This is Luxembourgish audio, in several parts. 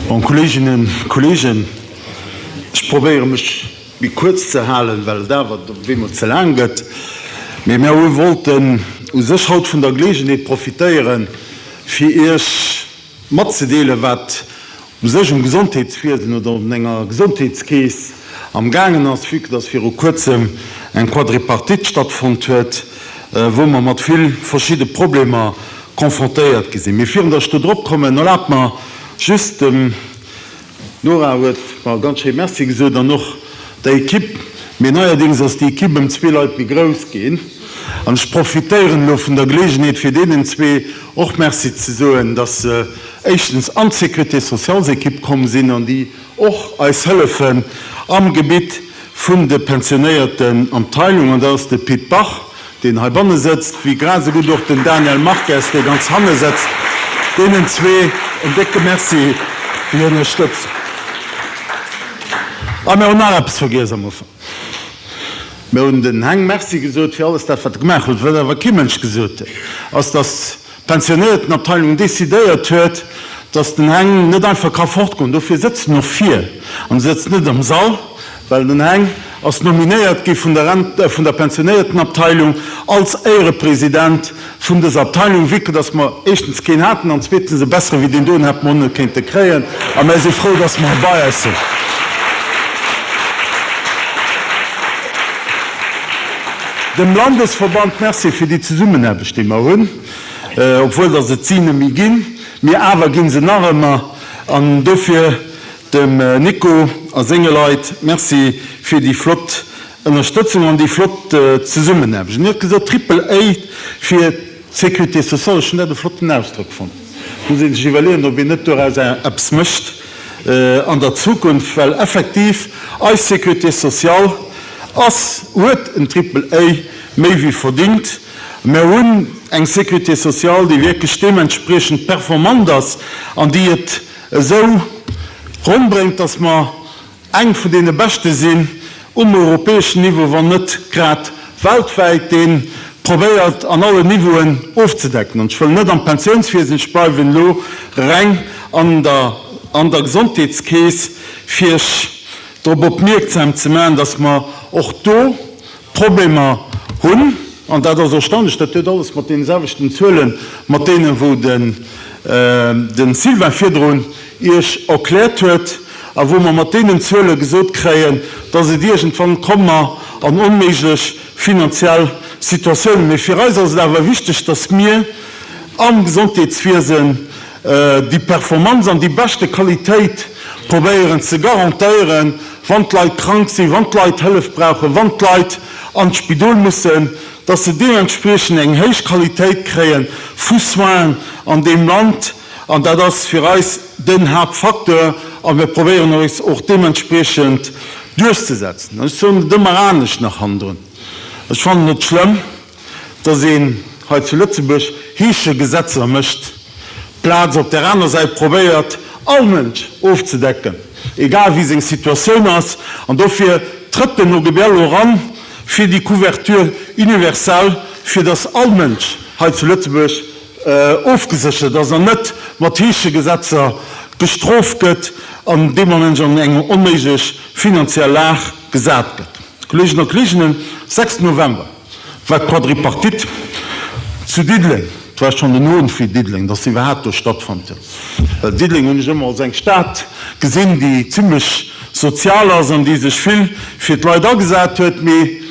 An Kolleeginnen, Kolleegen, ech probéiere mech méi kuerz ze halen, well et awer op eemol ze laang gëtt. Mee mir wollten u sech haut vun der Geleegenheet profitéieren, fir Iech, matzedeelen, wat u sech um Gesondheetswiesen oder un enger Gesondheetskeess am gaangen ass, vue que dass viru kuerzem eng Quadripartite stattfonnt huet, wou mer mat vill verschidde Problemer confrontéiert gi sinn. Mee virun dass ech do drop kommen, erlaabt mer just dem D'Nora huet mer ganz schéi Merci gesot an och der Ekipp. Mee neierdings ass déi Ekipp ëm zwee Leit méi grouss ginn. An ech profitéieren elo vun der Geleegenheet, fir deenen zwee och Merci ze soen, dass se éischtens an d'Sécurité-sociales-Ekipp komm sinn an déi och eis hëllefen am Gebitt vun de pensionéierten Abteilung. An dat ass de Pit Bach, deen heibanne sëtzt, wéi grad esou gutt och den Daniel Marques, dee ganz hanne sëtzt. Deenen zwee en décke Merci fir hir Ënnerstëtzung. A mir hunn nach eppes vergiess am Ufank. Mir hunn den Heng Merci gesot fir alles dat, wat e gemaach huet. Wat awer kee Mënsch gesot huet, ass, dass. d'Pensionnéiertenabteilung decidéiert huet, dass den Heng net einfach ka fortgoen. Dofir sëtzt en och vir an sëtzt net am Sall, well den Heng ass nominéiert gi vun der Rent, vun der Pensionnéiertenabteilung als Éierepresident vun dëser Abteilung, vu que dass mer éischtens keen haten an zweetens e bessere wéi deen do, en hätte mer och net kéinte kréien. A mer si frou, dass mer e bei eis hunn. Dem Landesverband Merci fir déi Zesummenaarbecht. déi mer hunn, obwuel datt et si neméi ginn, mee awer gi se nach ëmmer, an dofir dem Nico a senge Leit Merci fir déi flott Ënnerstëtzung an déi flott Zesummenaarbecht. An Dir hutt gesot Triple-A fir d'Sécurité sociale, ech hunn dat e flotten Ausdrock fonnt. Et muss ee sech iwwerleeën, ob een net doraus eppes mécht an der Zukunft, well effektiv eis Sécurité sociale ass, huet en Triple-A méi wéi verdingt. Mer hunn eng Sécurité sociale, déi wierklech deementspriechend performant ass an déi et esou ronndbréngt, dass mer eng vun deene beschte sinn um europäeschen Niveau, wann net grad weltwäit, dee probéiert an allen Niveauen ofzedecken. An ech wëll net am Pensiounswiesen, ech bleiwen elo reng an der Gesondheetskeess, fir drop opmierksam ze maachen, dass mer och do, Problemer hunn, an dat ass erstaunlech, dat huet alles mat deene selwechten Zuelen, mat deenen, wou de Sylvain virdrun Iech erkläert huet a wou mer mat deenen Zuele gesot kréien, dass et iergendwann komme mer an onméiglech finanziell Situatiounen. Mee fir eis ass et awer wichteg, dass mir am Gesondheetswiesen déi Performanz an déi beschte Qualitéit probéieren ze garantéieren, wann d'Leit krank sinn, wann d'Leit Hëllef brauchen, wann d'Leit an d'Spidol mussen, dass se deementspriechend eng héich Qualitéit kréie vu Soins an deem Land. An dat ass fir eis den Haaptfacteur a mir probéieren eis och deementspriechend duerchzesetzen. Ech soen et ëmmer anescht nach hannendrun, ech fannen et schlëmm, dass een hei zu Lëtzebuerg heesche Gesetzer mécht, d'Plaz op där aner Säit probéiert, all Mënsch ofzedecken, egal wéi seng Situatioun ass. An dofir trëtt den OGBL elo eran fir déi Couverture universelle, fir dass all Mënsch hei zu Lëtzebuerg ofgeséchert ass an net mat heesche Gesetzer gestroft gëtt an deem Ament an eng onméiglech finanziell Lag gesat gëtt. Kolleegen a Kolleeginnen, 6 November. War d'Quadripartite zu Diddeleng, et war schonn den Owend fir Diddeleng, dass se iwwerhaapt do stattfonnt huet, well Diddeleng hunn ech ëmmer als eng Stad gesinn, déi zimlech sozial ass an déi sech vill fir d'Leit agesat huet. Mee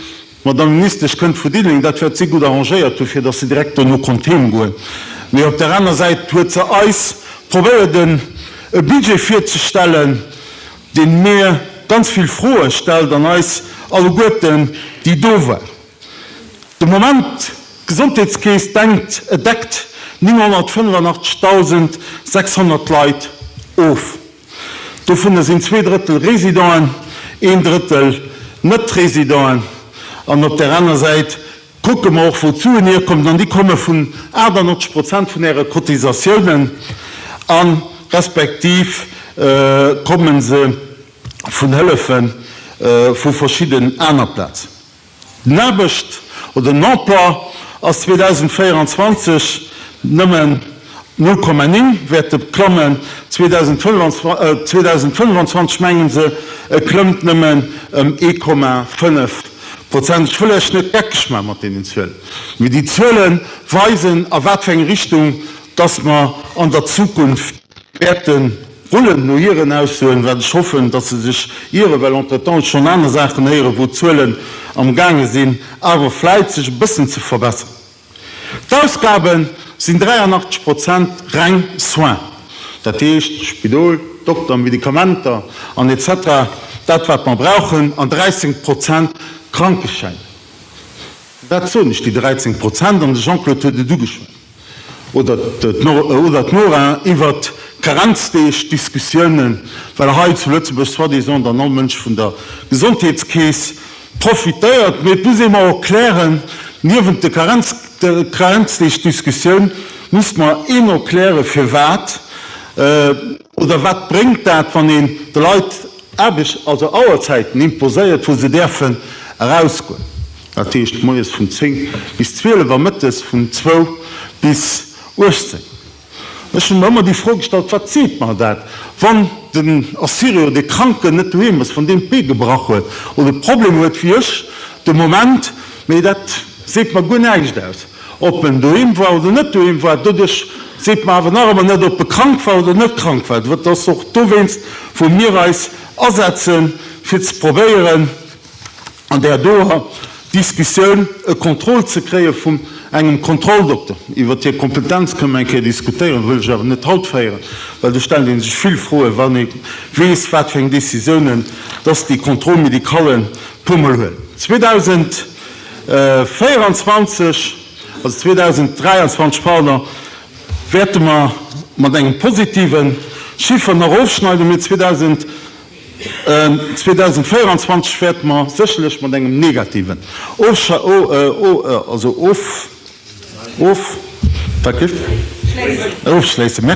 d'Madamm Ministesch kënnt vu Diddeleng, dat wäert si gutt arrangéiert hu fir dass se direkt dono konnt heem goen. Mee op där aner Säit huet se eis probéiert e Budget virzestellen, deen mir ganz vill Froe stellt an eis alleguerten, déi do war, de Moment d'Gesondheetskeess denkt, et deckt 985.600 Leit of. Dovunner sinn zwee Drëttel Residenten, een Drëttel Net-Residenten an op där aner Säit, Kucke mer och wou d'Suen hierkommen, an déi komme vun 98 Prozent vun Äre Cotisatiounen a respektiv komme se vun Hëllefe vu verschidden aner Plaz. Den Aarbecht oder den Emploi ass 2024 nëmmen. Null Komma néng wäert e klammen. 2025 mengen se e klëmmt nëmmen ëm ee Komma fënnef Prozent. Ech wëll lech net geckeg man mat deenen Zuelen, mee déi Zuele weisen a wat fir eng Richtung dass mer an der Zukunft wäerte rullen, no hiren Aussoen, wat ech hoffen dass se sech ieren, well entretemps ech schonn aner Saachen héieren wou d'Zuelen am gaange sinn awer vläit sech e bëssen ze verbesseren. D'Ausgabe sinn 83 Prozent reng Soins, dat heescht Spidol, Dokter, Medikamenter an etc. Dat wat mer brauchen, an 13 Prozent Krankeschäin. Dat soen ech, déi 13 Prozent, an de Jean-Claude huet et ugeschwat, oder d'Nora, iwwert d'Karenzdeeg, d'Diskussiounen, well hei zu Lëtzebuerg soi-disant dann all Mënsch vun der Gesondheetskeess, profitéiert, mee et muss ee mer och klären, niewent de Karenzdeeg-Diskussioun muss mer een och klären, firwat oder wat bréngt dat, wann een de Leit Aarbecht, also Auerzäiten imposéiert, wou se däerfen erausgoen, dat heescht moies vun 10 bis 12 a mëttes vun 2 bis 18. Ech hunn mer ëmmer déi Fro gestallt, Wat seet mer dat, wann den Assirio, dee Kranken, net doheem ass, wann deen d'Bee gebrach huet oder Problemer huet wéi ech de Moment, mee dat seet mer guer näischt aus, ob en doheem war oder net doheem war. Doduerch seet mer awer nach ëmmer net, ob e krank war oder net krank war. Dat ass och dowéinst, wou mir eis asetzen, fir ze probéieren, an där doer Diskussioun e Contrôle ze kréie vum engem Kontrolldokter. Iwwert hir Kompetenz kënne mer eng Kéier diskutéieren, wëll ech awer net haut féieren, well do stellt ee sech vill Froen, wann ee weess, wat fir eng Décisiounen dass déi Contrôle médical e puermol huet. 2024, also 2023, pardon, wäerte mer mat engem positiven Chiffer nach ofschneiden, mee 2000, 2024 wäerte mer sécherlech mat engem negativen Ofschluss schléissen,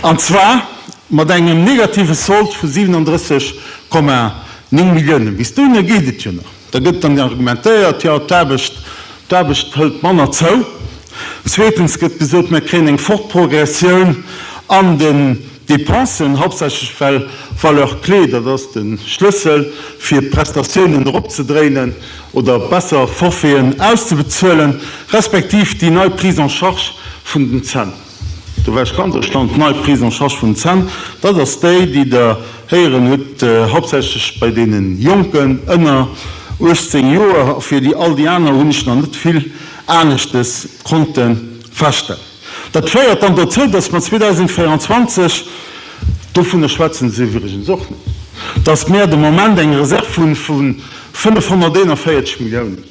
an zwar mat engem negative Solde vu 37,9 Milliounen. Bis dohinner geet et jo nach. Da gëtt dann argumentéiert, jo d'Aarbecht hëlt manner zou. Zweetens gëtt gesot, mer kréien eng fort Progressioun an de. Dépensen, hauptsächlech well Valeur clé, dat ass de Schlëssel fir d'Prestatiounen eropzedréinen oder besser Forfaiten auszebezuelen, respektiv déi nei Prise en charge vun den Zänn. Do war ech ganz erstaunt, d'nei Prise en charge vun den Zänn, dat ass déi, déi Der héieren hutt, hauptsächlech bei deene Jonken ënner 18 Joer. A fir all déi aner hunn ech nach net vill Aneschtes konnte feststellen. Dat féiert dann dozou, dass mer 2024, dovunner schwätzen se iwwregens och net, dass mer de Moment eng Reserv hu vun 541 Milliounen,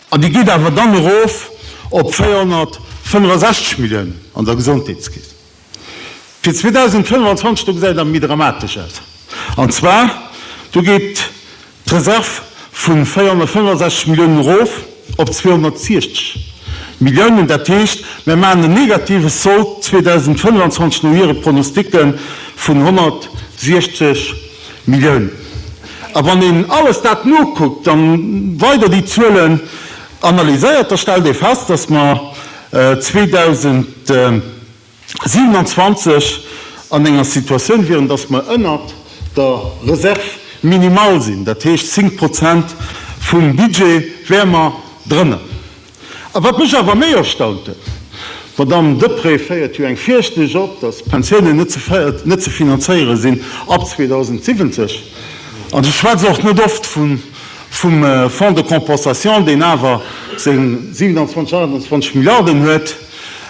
an déi geet awer dann erof op 465 Milliounen an der Gesondheetskeess. Fir 2025 do gesäit et awer méi dramatesch aus. An zwar do geet d'Reserv vu 465 Milliounen erof op 260 Milliounen. Dat heescht, mir maachen en negative Sold 2025 no hire Pronosticke vun 160 Milliounen. A wann een alles dat nokuckt a weider déi Zuelen analyséiert, da stellt ee fest, dass mer 2027 an enger Situatioun wieren, datt mer ënnert der Réserve minimale sinn, dat heescht 10 Prozent vum Budget wäre mer drënner. A wat mech awer méi erstaunt huet, d'Madamm Deprez féiert jo eng Virschnëch op, datt d'Pensiounen net ze finanzéiere sinn ab 2070, an ech schwätze och net oft vun vum Fonds de compensation, deen awer seng 27, 28 Milliarden huet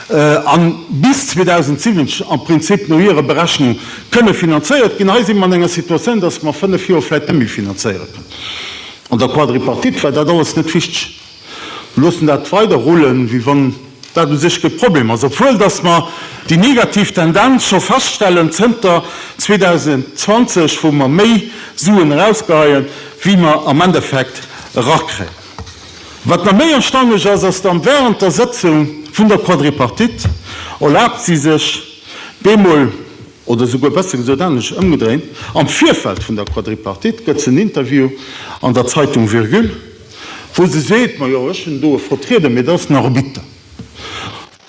a bis 2070 am Prinzip no hirer Berechnung kënne finanzéiert ginn. Hei si mer an enger Situatioun, datt mer fënnef Joer vläicht net méi finanzéiere kënnen. An der Quadripartite war dat alles net wichteg. Mir loossen dat weider rullen, wéi wann dat u sech kee Problem ass, obwuel dass mer déi negativ Tendenz scho feststellen zënter 2020, wou mer méi Suen erausgeheien, wéi mer am Endeffekt erakréien. Wat nach méi erstaunlech ass, ass dann, Wärend der Sëtzung vun der Quadripartite erlaabt si sech bemol, oder souguer besser gesot anescht ëmgedréint, am Virfeld vun der Quadripartite gëtt se en Interview an der Zeitung Virgule, Wou se seet, Ma jo, ech hunn do e Vertrieder, mee dat ass en Arbitter.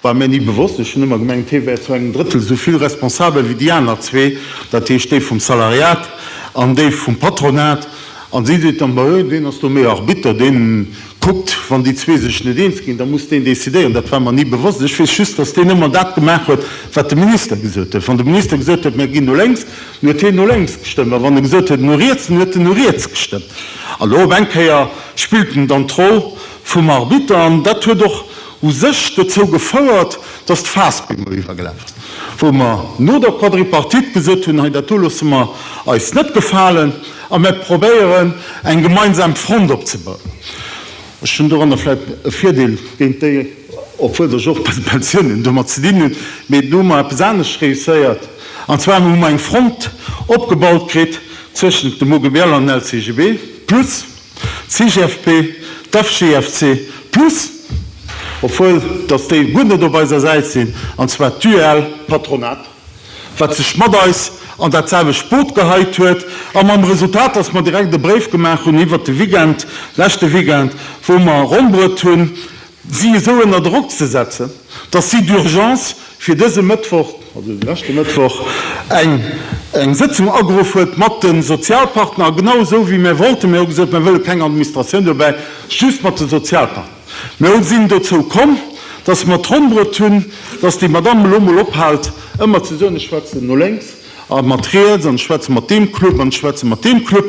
War mir ni bewosst. Ech hunn ëmmer gemengt, hee wär zu engem Drëttel esou vill responsabel ewéi déi aner zwee, dat heescht déi vum Salariat an déi vum Patronat. A si seet dann, Ma jo, deen ass do méi Arbitter, dee kuckt, wann déi zwee sech net eens ginn, da muss deen decidéieren. Dat war mer ni bewosst. Ech weess just, datt deen ëmmer dat gemaach huet, wat de Minister gesot huet. Wann de Minister gesot huet, Mir ginn no lénks, Mir huet hien no lénks gestëmmt, mä wann e gesot huet no riets, dann huet en no riets gestëmmt. A lo op eng Kéier spillt en dann d'Roll vum Arbitter an dat huet och u sech dozou gefouert, datt d'Faass bemol iwwergelaf ass, wou mer no der Quadripartite gesot hunn, hei dat do loosse mer eis net gefalen a mer probéieren eng gemeinsam Front opzebauen. Ech hunn doranner vläicht e Virdeel géint déi, obwuel ech och bei de Pensiounen domat ze dinn hunn, mee do hu mer eppes anescht réusséiert. An zwar hu mer eng Front opgebaut kritt zwëschent dem OGBL an dem LCGB plus d'CGFP, d'FGFC plus, obwuel datt déi guer net op eiser Säit sinn, an zwar d'UEL, d'Patronat, wat sech mat eis an dat selwecht Boot geheit huet, a mam Resultat, datt mer direkt e Bréif gemaach hunn iwwert de Weekend, leschte Weekend, wou mer erombrot hunn, si esou ënner Drock ze setzen, datt si d'Urgence fir dëse Mëttwoch, also de leschte Mëttwoch, eng eng Sëtzung ageruff huet mat de Sozialpartner, a genau esou wéi mär wollten, mir hu gesot, mär wëlle keng Administratioun dobäi, just mat de Sozialpartner, mä hu sinn dozou komm, datt mer d'Ronn bruet hunn, datt déi Madamm elo mol ophält ëmmer ze soen, ech schwätzen no lénks, a mat riets an ech schwätze mat deem Club an ech schwätze mat deem Club,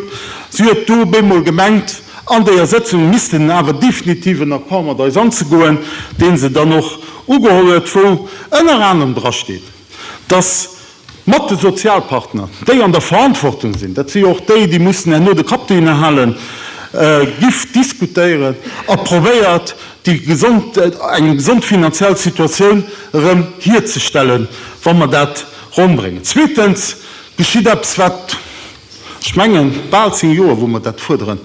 si huet do op eemol gemengt, an déier Sëtzung missten en awer definitiv en Accord mat eis anzegoen, dee se dann och ugeholl huet, wou ënner anerem drasteet, dass mat de Sozialpartner, déi an der Verantwortung sinn, dat si jo och déi, déi mussen herno de Kapp dohinner halen, giff diskutéieren a probéiert déi gesond, eng gesond finanziell Situatioun erëm hierzestellen, wa mer dat Ronn bréngen. Zweetens geschitt eppes, wat, ech mengen, bal zéng Joer, wou mer dat fuerderen,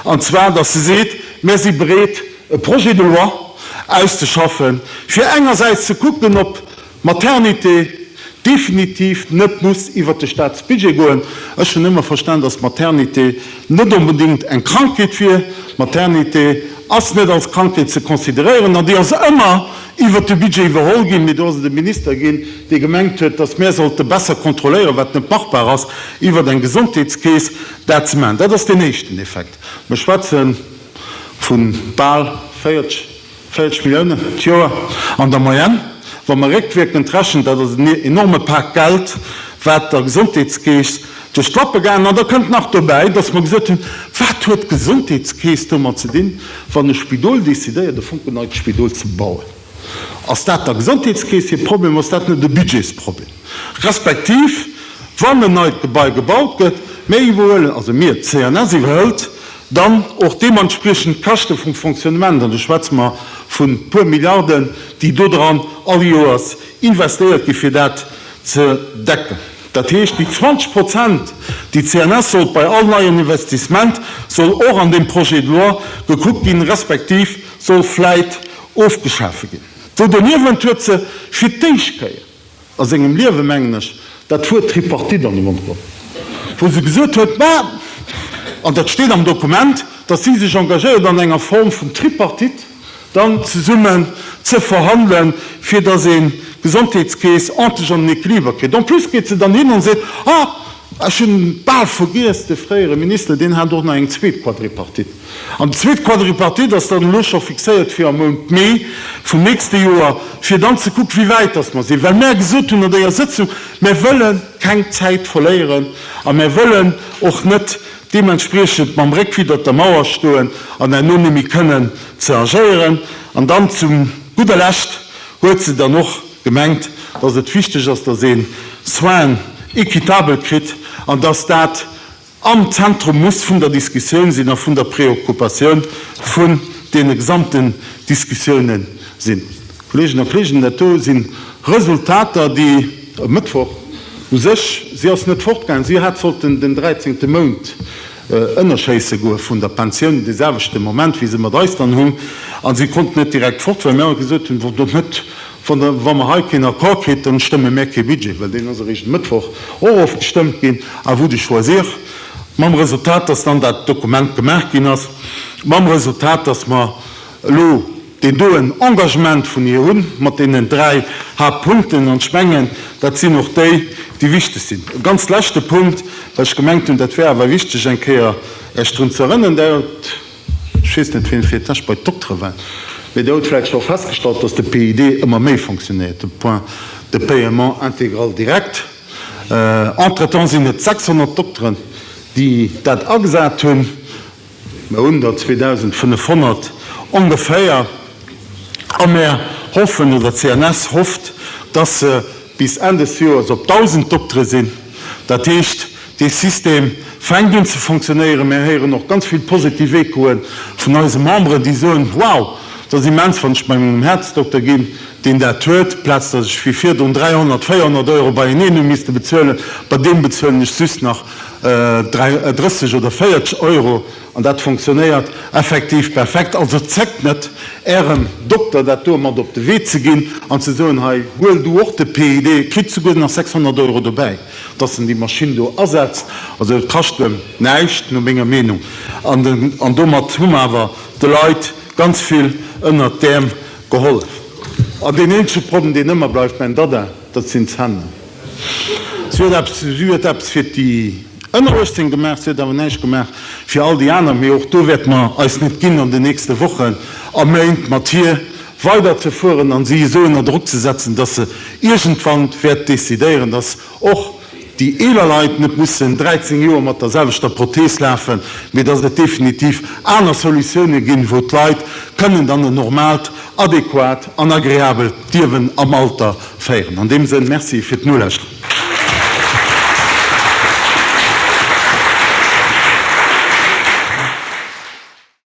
an zwar, dass se seet, Mir si bereet, e Projet de loi auszeschaffen, fir engersäits ze kucken, ob d'Maternité definitiv net muss iwwert de Staatsbudget goen. Ech hunn ëmmer verstanen, dass d'Maternité net onbedéngt eng Krankheet wier. D'Maternité ass net als Krankheet ze consideréieren an déi ass ëmmer iwwert de Budget iwwerholl ginn, mee do ass et e Minister ginn, dee gemengt huet, datt mär sollte besser kontrolléieren, wat net machbar ass, iwwert eng Gesondheetskeess dat ze maachen. Dat ass deen éischten Effekt. Mir schwätze vu bal 40, 40 Milliounen d'Joer an der Moyenne, wa mer réckwierkend rechnen. Dat ass en enorme Pak Geld, wat der Gesondheetskeess duerch d'Lappe gaangen. An da kënnt nach dobäi, dass mer gesot hunn, Wat huet d'Gesondheetskeess domat ze dinn? Wann e Spidol decidéiert, e Fonken neit Spidol ze bauen, ass dat der Gesondheetskeess hir Problem? Ass dat net e Budgetsproblem? Respektiv, wann en neit Gebai gebaut gëtt, mir iwwerhuelen, also mir, d'CNS iwwerhëlt dann och deementspriechend d'Käschte vum Fonctionnement, an do schwätze mer vu puer Milliarden, déi dodran all Joers investéiert ginn, fir dat ze decken. Dat heescht, déi 20 Prozent, déi d'CNS sot, bei all neien Investissement soll och an deem Projet de loi gekuckt ginn, respektiv soll vläit ofgeschafe ginn. Do doniewent huet se fir d'éischt Kéier a sengem Liewe, mengen ech, dat Wuert Tripartite an de Mond geholl, wou se gesot huet, mä, an dat steet am Dokument, datt si sech engagéiert an enger Form vun Tripartite, dann zesummen ze verhandelen, fir dass ee Gesondheetskeess endlech an den Equiliber kritt. En plus geet se dann hin an seet, Ah, ech hunn bal vergiess, de fréiere Minister, deen hat och nach eng zweet Quadripartite. An déi zweet Quadripartite ass dann elo scho fixéiert fir am Mount Mee vum nächste Joer, fir dann ze kucken, wéi wäit dass mer sinn, well mär gesot hunn an déier Sëtzung, Mär wëlle keng Zäit verléieren a mär wëllen och net, deementspriechend mam Réck widdert der Mauer stoen an herno nëmme kënnen ze agéieren. An dann zu gudder Lescht huet se dann och gemengt, dass et wichteg ass, dass ee Soins équitables kritt an dass dat am Zentrum muss vun der Diskussioun sinn a vun der Preoccupatioun vun deene gesamten Diskussioune sinn. Kolleegen a Kolleegen, dat do si Resultater, déi e Mëttwoch u sech, si ass net fortgaangen, si hat sollten den dräizéngte Mount ënnerschéisse goe vun der Pensioun, dee selwechte Moment, wéi se mat eis dann hunn, a si konnt net direkt fort, well mir awer gesot hunn, Wann der net, wa mer hei keen Accord kritt, dann stëmme mir kee Budget, well deen ass eréischt e Mëttwoch och ofgestëmmt ginn, à vous de choisir, mam Resultat, dass dann dat Dokument gemaach ginn ass, mam Resultat, dass mer elo, déi do en Engagement vun hir hunn mat deenen dräi Haaptpunkten, an ech mengen, dat sinn och déi, déi wichteg sinn. E ganz leschte Punkt, well ech gemengt hunn, dat wär awer wichteg eng Kéier Iech drun ze erënnen, Där hutt, ech weess net, wien fir d'éischt bei d'Doktere war, mä Dir hutt vläicht scho festgestallt, dass de PID ëmmer méi fonctionnéiert, de Point de paiement intégral direct. Entretemps sinn et 600 Dokteren, déi dat agesat hunn. Mer hunn der 2.500 ongeféier a mer hoffen, oder d'CNS hofft, dass se bis Enn des Joers op 1.000 Doktere sinn. Dat heescht, dee System fänkt un ze fonctionéieren. Mir héieren och ganz vill positiv Echoe vun eise Memberen, déi soen, Wow, dat ass immens, wann ech bei mengem Häerzdokter ginn, deen dat huet, plaz dass ech wéi virdrun 300, 400 Euro beieneen hu misste bezuelen, bei deem bezuelen ech just nach 30 oder 40 Euro, an dat fonctionnéiert effektiv perfekt. Also zéckt net, Ärem Dokter dat do mat op de Wee ze ginn an ze soen, Hei, huel du och de PID, kritt souguer nach 600 Euro dobäi, dass en déi Maschinn do asetzt. Also et kascht em näischt, no menger Meenung, an domat hu mer awer de Leit ganz vill ënnert d'Äerm gehollef. An deen eenzege Problem, deen ëmmer bleift, Mäin Dada, Dat sinn d'Zänn. Si huet eppes, si huet eppes fir déi ënner 18 gemaach, si huet awer näischt gemaach fir all déi aner. Mee och do wäerte mer eis net ginn, an den nächste Wochen a Méint mat hir weiderzefueren an si esou ënner Drock ze setzen, dass se iergendwann wäert decidéieren, dass och déi eeler Leit net mussen 13 Joer mat der selwechter Prothees lafen, mee dass et definitiv aner Solutiounen ginn, wou d'Leit kënnen dann en normaalt, adequat an agreabelt Liewen am Alter féieren. An deem Sënn, Merci fir d'Nolauschteren.